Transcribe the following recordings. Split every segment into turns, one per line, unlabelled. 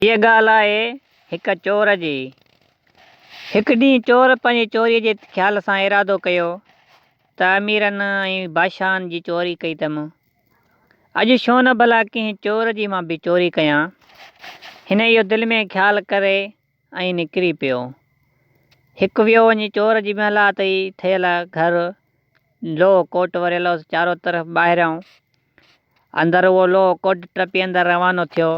هيء ڳالهه آهي هڪ چور جي. هڪ ڏينهن چور پنهنجي چوريء جي خيال سان ارادو ڪيو ته اميرن ۽ بادشاهن جي چوري ڪئي اٿم، اڄ ڇو نه ڀلا ڪنهن چور جي مان به چوري ڪيان. هن اهو دل ۾ خيال ڪري ۽ نڪري پيو. هڪ ويو وڃي چور جي محلات ئي ٺهيل گهر لوهه ڪوٽ وريل هوس چارو طرف ٻاهريان اندر اهو لوهه ڪوٽ ٽپي اندر روانو ٿيو.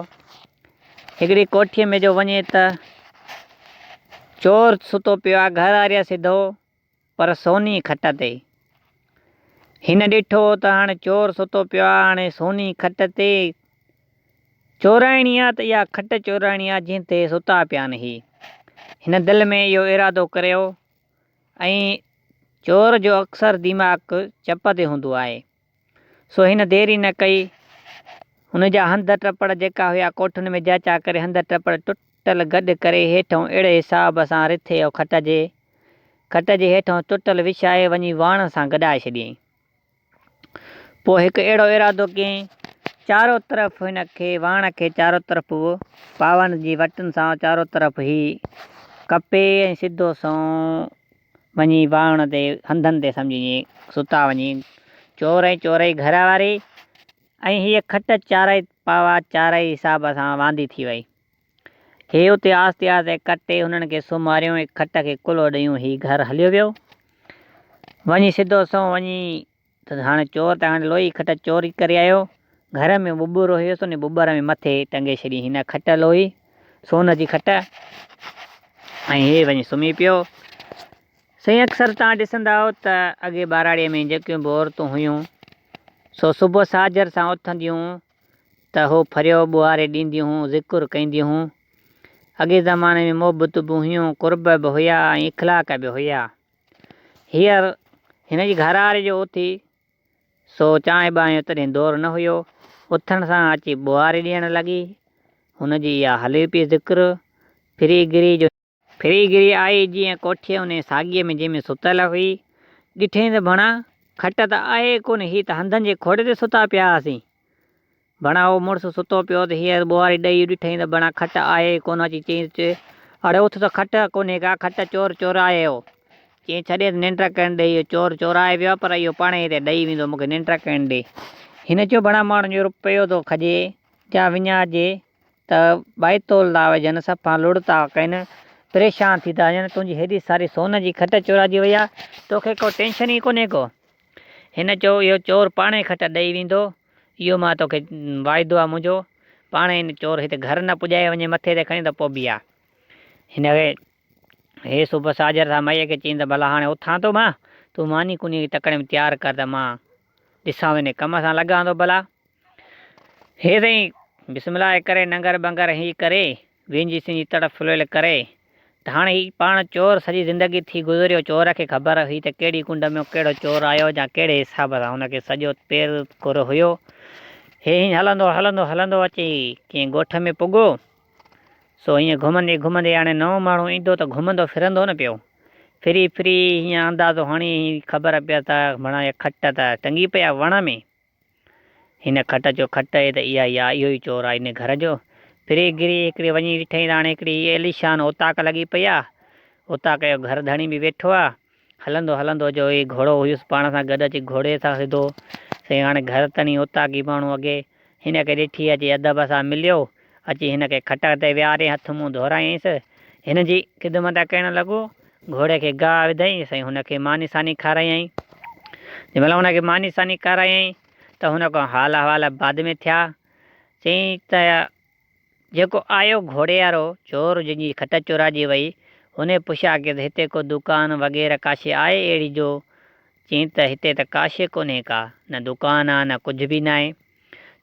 هڪڙي ڪوٺيء ۾ جو وڃي ته چور ستو پيو آ، گهر آريا سڌو پر سوني کٽ تي. هن ڏٺو ته هاڻ چور ستو پيو آ، هاڻي سوني کٽ تي چورائڻي آ ته اها کٽ چورائڻي آ جنهن تي ستا پيان هي. هن دل ۾ اهو ارادو ڪريو ۽ چور جو اڪثر ديماڪ چپ تي هوندو آهي. سو هن دير ئي نه ڪئي. هن جا هنڌ ٽپڙ جيڪا هيا ڪوٺن ۾ جاچا ڪري هنڌ ٽپڙ ٽٽل گڏ ڪري هيٺئون اهڙي حساب سان رٿي او کٽ جي کٽ جي هيٺئون ٽٽل وڇائي وڃي واڻ سان گڏائي ڇڏيائين. پوء هڪ اهڙو ارادو ڪيائين. چارو طرف هن کي واڻ کي چارو طرف به پاون جي وٽن سان چارو طرف هي ڪپي ۽ سڌو سنئون وڃي واهڻ تي هنڌن تي سمجهي ستا وڃي چور ۽ چورئي گهر واري ۽ هيء کٽ چارئي پاوا چارئي حساب سان واندي ٿي وئي. هي اتي آهستي آهستي ڪٽي هنن کي سمهاريون ۽ کٽ کي ڪلهو ڏيون هي گهر هليو ويو. وڃي سڌو سنئون وڃي. ته هاڻي چور ته هاڻي لوئي کٽ چوري ڪري آيو، گهر ۾ ٻٻرو هيس انهي ٻٻر ۾ مٿي ٽنگي ڇڏي هن کٽ لوئي سون جي کٽ ۽ هي وڃي سمهي پيو. سائين اڪثر توهان ڏسندا آهيو ته اڳي ٻهراڙي ۾ جيڪيون به عورتون هيون سو صبح ساجهر سان اٿنديون ته هو ڦريو ٻوهاري ڏينديون هون ذڪر ڪينديون هون. اڳي زماني ۾ محبتون به هيون قرب به هيا ۽ اخلاق به هيا. هينئر هن جي گهرواري جو اٿي سو چانهه ٻانهه جو تڏهن دور نه هيو، اٿڻ سان اچي ٻوهاري ڏيڻ لڳي. هن جي اها هلي پئي ذڪر ڦري گري جو. ڦري گري آئي جيئن ڪوٺيء انهيء ساڳيء ۾ جنهن ۾ ستل هئي، ڏٺئي ته ڀڻا کٽ ته آهي ئي ڪونه، هي ته هنڌن جي کوڙي تي ستا پيا هئاسين. ڀڻا اهو مڙس ستو پيو ته هيء ٻوهاري ڏئي ڏٺئين ته ڀڻا کٽ آهي ئي ڪونه اچي چيس چي اڙي اٿ ته کٽ ڪونهي ڪا کٽ چور چورائي ويو چيس ڇڏيس ننڊ ڪرڻ ڏي اهو چور چورائي ويو آهي پر اهو پاڻهي هتي ڏئي ويندو مون کي ننڊ ڪرڻ ڏي هن چيو ڀڻا ماڻهن جو رپيو ٿو کڄي جا وڃائجي ته بائتول ٿا وجهن صفا لڙ ٿا ڪن پريشان ٿي ٿا وڃن تنهنجي هيڏي ساري سون جي کٽ چورائجي وئي آهي توکي ڪو ٽينشن ئي ڪونهي ڪو هن چيو، اهو چور پاڻهي کٽ ڏئي ويندو، اهو مان توکي واعدو آهي منهنجو، پاڻهي هن چور هت گهر نه پڄائي وڃي مٿي تي کڻي ته پوء بيهه. هن کي هي صبح ساجهر سان مئي کي چيائين ته ڀلا هاڻي اٿان ٿو مان، تون ماني ڪونيء جي تڪڙي ۾ تيار ڪر ته مان ڏسان ٿو انهيء ڪم سان لڳان ٿو ڀلا. هي سائين بسم الله ڪري ننگر بنگر هي ڪري وينجهي سنجي تڙ ڦليل ڪري ته هاڻي هي پاڻ چور سڄي زندگي ٿي گذريو چور کي خبر هئي ته ڪهڙي ڪنڊ ۾ ڪهڙو چور آيو يا ڪهڙي حساب سان هن کي سڄو پير ڪر هيو هي هيئن هلندو هلندو هلندو اچي ڪنهن ڳوٺ ۾ پڳو سو هيئن گهمندي گهمندي هاڻي نئون ماڻهو ايندو ته گهمندو ڦرندو نه پيو ڦري ڦري هيئن اندازو هڻي هيئن خبر پيس ته مڙا هي کٽ ته ٽنگي پئي آهي وڻ ۾. هن کٽ جو کٽ اهي ته اها يا اهو ئي چور آ ان گهر جو. پھرين گري هڪڙي وڃي ڏٺئين ته هاڻي هڪڙي هيء عيليشان اوطاق لڳي پئي آ. اوطاق جو گهر ڌڻي به ويٺو آ. هلندو هلندو جو هي گهوڙو هيس پاڻ سان گڏ اچي گهوڙي سان سڌو سائين هاڻي گهر تڻي اوطاقي ماڻهو اڳي هن کي ڏٺي اچي ادب سان مليو. اچي هن کي کٽڪ تي ويهاري هٿ منهن ڌورايائينس. هن جي خدمت ڪرڻ لڳو. گهوڙي کي گاهه وڌائينس ۽ هن کي ماني ساني کارايائين. جنهن مهل هن کي ماني ساني کارايائين ته هن کان حال احوال بعد ۾ ٿيا. چيائين ته جيڪو آيو گهوڙي وارو چور جنهن جي کٽ چوراجي وئي، هن پڇيا ڪيس هتي ڪو دڪان وغيره ڪا شيء آهي اهڙي جو چيائين ته هتي ته ڪا شيء ڪونهي ڪا نه دڪان آ نه ڪجهه به ناهي.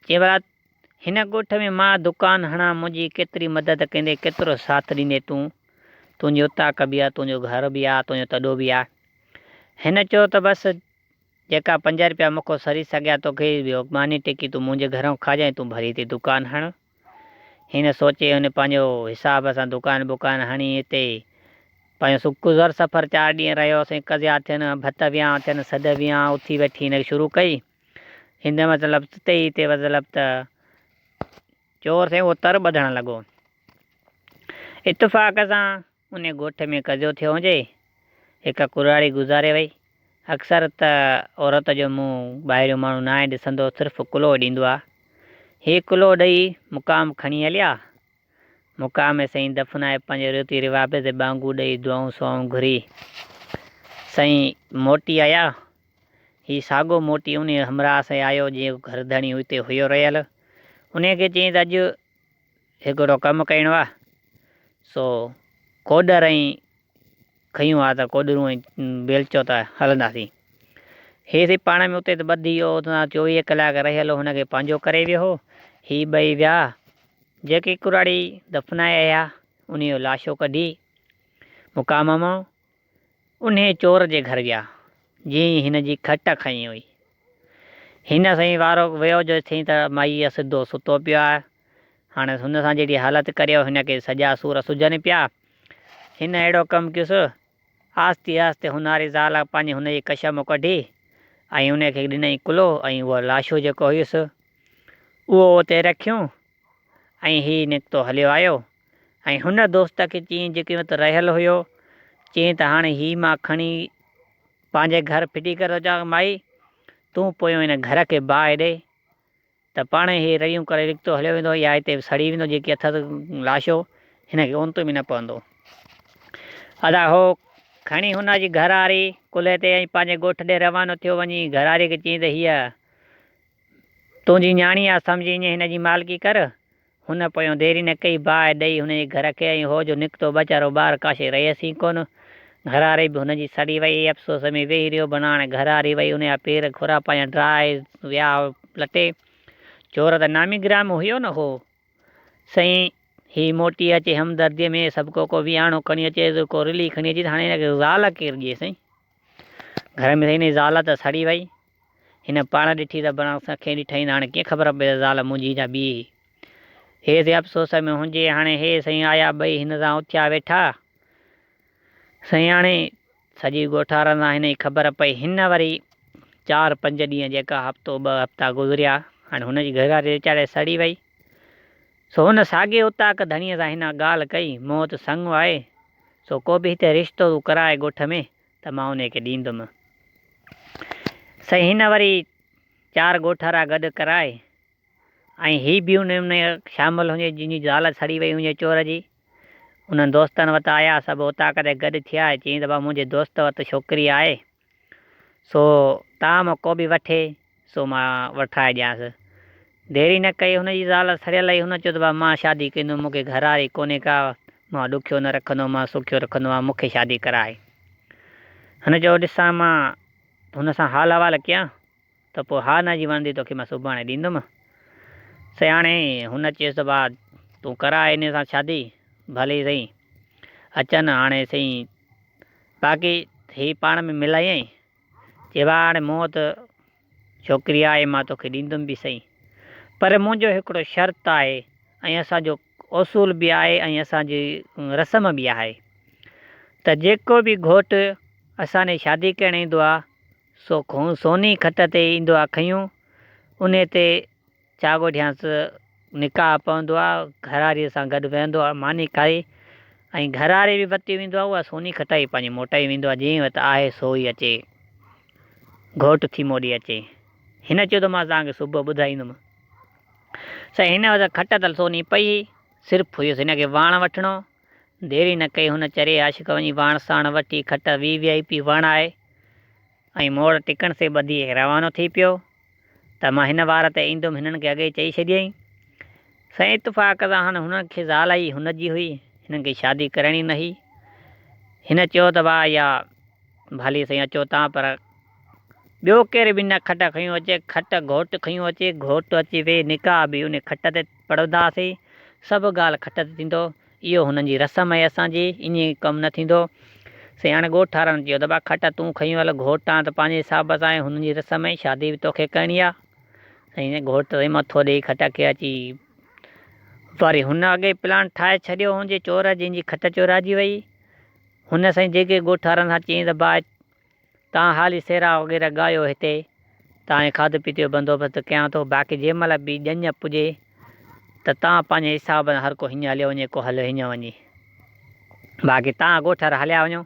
چيائين ڀلا هن ڳوٺ ۾ مان دڪان هڻان، منهنجي ڪيتري مدد ڪندين، ڪيترو ساٿ ڏيندين تون؟ تنهنجي اوطاق به آ، تنهنجو گهر به آ، تنهنجو تڏو به آ. هن چيو ته بس جيڪا پنج رپيا مون کان سري سگهيا توکي ٻيو ماني ٽڪي تون منهنجي گهران کائجان ۽ تون ڀلي هتي دڪان هڻ. هن سوچي هن پنهنجو حساب سان دڪان بڪان هڻي هتي پنهنجو سو گذر سفر چار ڏينهن رهيس ۽ قضيا ٿين، ڀت ويهان ٿين، سڌ ويهان اٿي ويٺي هن شروع ڪئي. هن وضع لفظ تي ئي تي وضع لفظ ته چور سين اهو تر ٻڌڻ لڳو. اتفاق سان انهي ڳوٺ ۾ قضيو ٿيو هجي. هڪ ڪراڙي گذاري وئي. اڪثر ته عورت جو منهن ٻاهريون ماڻهو ناهي ڏسندو صرف ڪلهو ڏيندو آ. هي ڪلهو ڏئي مقام کڻي هليا مقام ۾ سائين دفنائي پنهنجي ريتي روابط تي ٻانگون ڏئي دعائون سوائون گهري سائين موٽي آيا. هي ساڳو موٽي انهي همراهه سان آيو جنهن جو گهر ڌڻي هتي هيو رهيل. انهي کي چيائين ته اڄ هڪڙو ڪم ڪرڻو آ سو ڪوڏر ۽ کنيون ها ته ڪوڏرون ۽ بيلچو ته هلنداسين. هي سڀ پاڻ ۾ اتي ته ٻڌي ويو هو ته سان چوويهه ڪلاڪ رهيل هو هن کي پنهنجو ڪري ويو هو. هي ٻئي ويا جيڪي ڪراڙي دفنائي آيا انهيء جون لاشون ڪڍي مقام مئو انهيء چور جي گهر ويا جنهن هن جي کٽ کنئي هئي. هن سائين وارو ويو جو ٿي ته مئي سڌو ستو پيو آهي. هاڻيس هن سان جهڙي حالت ڪريو هن کي سڄا سور سجهن پيا. هن اهڙو ڪم ڪيس. آهستي آهستي هونهاري زال پنهنجي هن جي ڪش مان ڪڍي ۽ ان کي ڏنائين ڪلهو ۽ اهو لاشو جيڪو هيس اهو اتي رکيون ۽ هي نڪتو هليو آيو. ۽ هن دوست کي چيائين جيڪي اتي رهيل هيو، چيائين ته هاڻي هي مان کڻي پنهنجي گهر ڦٽي ڪري ٿو اچان، مائي تون پويون هن گهر کي باهه ڏي ته پاڻهي هي رڙيون ڪري رڪتو هليو ويندو يا هتي به سڙي ويندو، جيڪي اٿس لاشو هن کي اونتو به نه پوندو. ادا هو کڻي هن جي گهراري ڪلهي تي ۽ پنهنجي ڳوٺ ڏي روانو ٿيو، وڃي گهراري کي چيائين ته هيء تنهنجي نياڻي آ، سمجهي ائين هن جي مالڪي ڪر. هن پويون دير ئي نه ڪئي، باهه ڏئي هن جي گهر کي ۽ هو جو نڪتو ويچارو ٻار ڪاشي رهيس ئي ڪونه. گهراري به هن جي سڙي وئي. افسوس ۾ ويهي رهيو. بناڻ گهراري وئي، ان جا پير کورا پايان ڊاهي ويا لٽي. چور ته نامي گرامي هيو نه هو. سائين هي موٽي اچي همدرديء ۾ سڀڪو ڪو ويهاڻو کڻي اچيس، ڪو رلي کڻي اچيس، هاڻي هن کي زال ڪير ڏئي سائين. گهر ۾ سائين هن جي زال ته سڙي وئي. هن پاڻ ڏٺي ته برانڪس کان کين ڏٺائين ته هاڻي ڪيئن خبر پئي ته زال منهنجي جا ٻيئي هيس يا افسوس ۾ هونجي هاڻي هي سائين آيا ٻئي هن سان اٿيا ويٺا سائين هاڻي سڄي ڳوٺارن سان هن جي خبر پئي هن وري چار پنج ڏينهن جيڪا هفتو ٻه هفتا گذريا هاڻي هن جي گهرواري ويچاري سڙي وئي سو هن ساڳي اوطاق ڌڻيء سان هن ڳالهه ڪئي مون وٽ سڱ آهي سو ڪو به هتي رشتو تون ڪرائي ڳوٺ ۾ ته مان انهيء کي ڏيندم. سائين هن وري چار ڳوٺارا گڏ ڪرائي ۽ هي به انهن ۾ شامل هئي جن جي زال سڙي وئي هئي چور جي. انهن دوستن وٽ آيا سڀ اوطاق تي گڏ ٿيا ۽ چيائين ته بابا منهنجي دوست وٽ ڇوڪري آهي سو طعام ڪو به وٺي. سو مان وٺرائي ڏيانس. ديري نه ڪئي هن جي زال سڙيل هئي هن چيو ته ڀاء مان شادي ڪندم مون کي گهرواري ڪونهي ڪا مان ڏکيو نه رکندو مان سکيو رکندو آهيان مون کي شادي ڪرائي. هن چيو ڏسان مان هن سان حال حوال ڪيان ته پوء ها نه جي وڻندي توکي مان سڀاڻي ڏيندم. سياڻي هن چيس ته ڀاء تون ڪرائي هن سان شادي ڀلي سهي اچن هاڻي سهي باقي هي پاڻ ۾ ملائينء چيوهاڻ موت ڇوڪري آهي مان توکي ڏيندم به سهي پر منهنجو هڪڙو شرط آهي ۽ اسان جو اصول به آهي ۽ اسان جي رسم به آهي ته جيڪو به گهوٽ اسان ڏي شادي ڪرڻ ايندو آهي سو سوني کٽ تي ايندو آهي کنيون انهي تي چاء ڳوٺيانس، نڪاح پوندو آ، گهراريء سان گڏ ويهندو آ، ماني کائي ۽ گهراري به پتي ويندو آ، اها سوني کٽائي پنهنجي موٽائي ويندو آ، جنهن وٽ آهي سو ئي اچي، گهوٽ ٿي موڏي اچي. هن چيو ته مان توهان کي صبح ٻڌائيندم. سائين هن وقت کٽ تل سوني پئي هئي، صرف هيس هن کي واڻ وٺڻو، ديري نه ڪئي هن چري عاشق وڃي واڻ ساڻ وٺي کٽ وي وي آء پي واڻائي. ۽ موڙ ٽڪڻ سي ٻڌي روانو ٿي پيو ته مان هن وار تي ايندم هنن کي اڳئي چئي ڇڏيئي سائين اتفاق سان هن هن کي زال ئي هن جي هئي هنن کي شادي ڪرڻي نه هئي هن چيو ته واه يا ڀلي سائين اچو تان پر ٻيو ڪير به نه کٽ کنيو اچي کٽ گهوٽ کنيو اچي گهوٽ اچي وي نڪاح به ان کٽ تي پڙهنداسي سڀ ڳالهه کٽ تي ٿيندو. اهو هنن جي رسم آهي اسان جي انهي ڪم نه ٿيندو. سياڻي ڳوٺ ٺارڻ چيو ته ڀاء کٽ تون کنيو هل گهوٽان ته پنهنجي حساب سان آهي هنن جي رسم آهي شادي به توکي ڪرڻي آهي سائين گهوٽ ته سائين مٿو ڏئي کٽ کي اچي وري هن اڳي پلان ٺاهي ڇڏيو هن جي چور جنهن جي کٽ چورائجي وئي هن سائين جيڪي ڳوٺ وارن سان چيائين ته ڀاء تان حالي سيرا وغيره ڳايو هتي تانهين کاڌو پيتي جو بندوبست ڪيان ٿو باقي جنهن مهل به ڄڃ پڄي ته تان پنهنجي حساب سان هر ڪو هڃ هليو وڃي ڪو هل هڃ وڃي باقي تان ڳوٺر هليا وڃو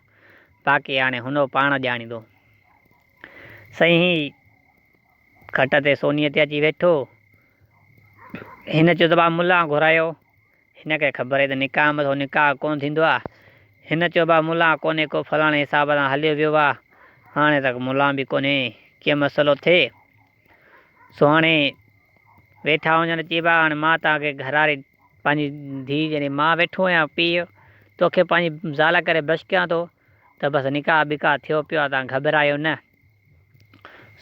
باقي هاڻي هنو پاڻ ڄاڻيندو سائين هي کٽ تي سوني تي اچي ويٺو هن چيو ته با ملا گهرايو هن کي خبر هئي ته نڪاح مٿو نڪاح ڪونه ٿيندو آ. هن چيو ڀا ملان ڪونهي ڪو فلاڻي حساب سان هليو ويو آ. هاڻي تڪ ملان به ڪونهي ڪي مسئلو ٿئي. سو هاڻي ويٺا هجن ته چئبا هاڻي مان توهان کي گهراري پنهنجي ڌيء يعني مان ويٺو آهيان پيء توکي پنهنجي زال ڪري بس ڪيان ٿو ته بس نڪاح بڪاح ٿيو پيو آ توهان گهٻرايو نه.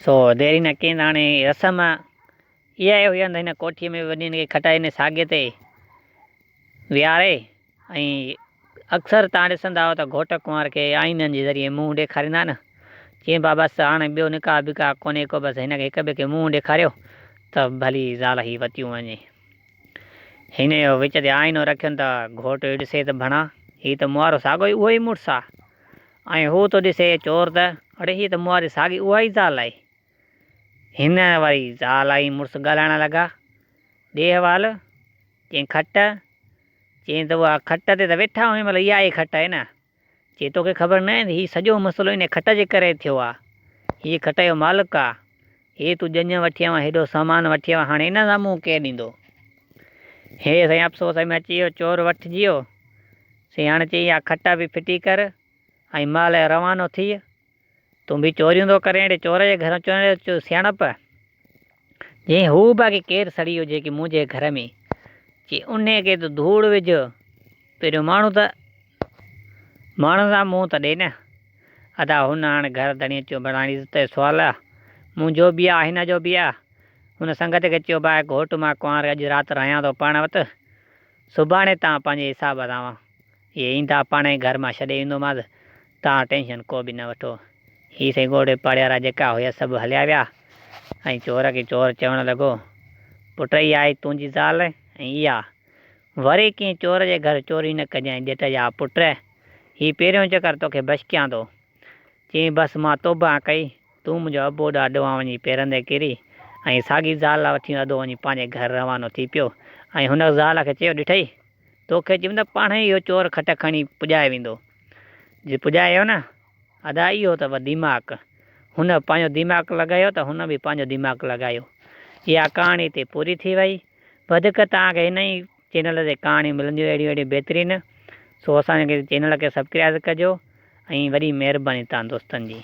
سو ديري نه ڪين هاڻي رسم اها ئي هئي هنڌ هن ڪوٺيء ۾ وڃي هن کي کٽائي هن ساڳي تي ويهاري ۽ اڪثر تان ڏسندا هئا ته گهوٽ ڪنوار کي آئينن جي ذريعي منهن ڏيکاريندا نه چين پيا بس هاڻي ٻيو نڪاح بڪاح ڪونهي ڪو بس هن کي هڪ ٻئي کي منهن ڏيکاريو ته ڀلي زال هي وتيون وڃي هن اهو وچ تي آئينو رکين ته گهوٽ اهو ڏسي ته ڀڻا هي ته موارو ساڳو ئي اهو ئي مڙس آ ۽ هو ٿو ڏسي چور ته اڙي هي ته مواري ساڳي اها ئي زال آهي هن وري زال ۽ مڙس ڳالهائڻ لڳا. ڏيهوال، چئين کٽ؟ چئين ته اها کٽ تي ته ويٺا آهيون مطلب اها ئي کٽ آهي نه؟ چئين توکي خبر ناهي ته هي سڄو مسئلو انهيء کٽ جي ڪري ٿيو آهي. هيء کٽ جو مالڪ آهي. هيء تون ڄڃ وٺي آيو آهين، هيڏو سامان وٺي آيو آهين، هاڻي ان جا منهن ڪير ڏيندو؟ هيء سائين افسوس ۾ اچي ويو، چور وٺجي ويو. سياڻ چئي اها کٽ به ڦٽي ڪر ۽ مال روانو ٿيء، تون به چوريون ٿو ڪرين اهڙي چور جي گهر اچڻ اهڙي تو سياڻپ جئين هو به اڳي ڪير سڙي هجي ڪي منهنجي گهر ۾ چي انهي کي تون ڌوڙ وجهه پهريون ماڻهو ته ماڻهن سان منهن ته ڏي نه ادا هن هاڻ گهر ڌڻي چيو بڻاڻي ته تي سوال آ منهنجو به آ هن جو به آ هن سنگت کي چيو باء گهوٽ مان ڪنوار اڄ رات رهيان ٿو پاڻ وٽ سڀاڻي تان پنهنجي حساب سان هي ايندا پاڻ ئي گهر مان ڇڏي ايندومانس، توهان ٽينشن ڪو به نه وٺو. هي سائين ڳوڙهي پاڙي وارا جيڪا هيس سڀ هليا ويا ۽ چور کي چور چوڻ لڳو، پٽ هي آهي تنهنجي زال ۽ اها، وري ڪنهن چور جي گهر چوري نه ڪجانء ڄٽ جا پٽ، هي پهريون چڪر توکي بشڪيان ٿو. چيائين بس مان توبه ڪئي، تون منهنجو ابو ڏا ڏوهان وڃي پيرندي ڪري ۽ ساڳي زال وٺي ادو وڃي پنهنجي گهر روانو ٿي پيو ۽ هن زال کي چيو ڏٺئي توکي چيم ته پاڻهي اهو چور کٽ کڻي پڄائي ويندو. جي پڄايو نه ادا اهو اٿئو ديماڪ. هن به پنهنجو ديماڪ لڳايو ته هن به پنهنجو ديماڪ لڳايو. اها ڪهاڻي اتي پوري ٿي وئي. وڌيڪ توهان کي هن ئي چينل تي ڪهاڻيون ملنديون اهڙيون اهڙيون بهترين. سو اسان جي چينل کي سبڪرائز ڪجو ۽ وڏي مهرباني توهان دوستن جي.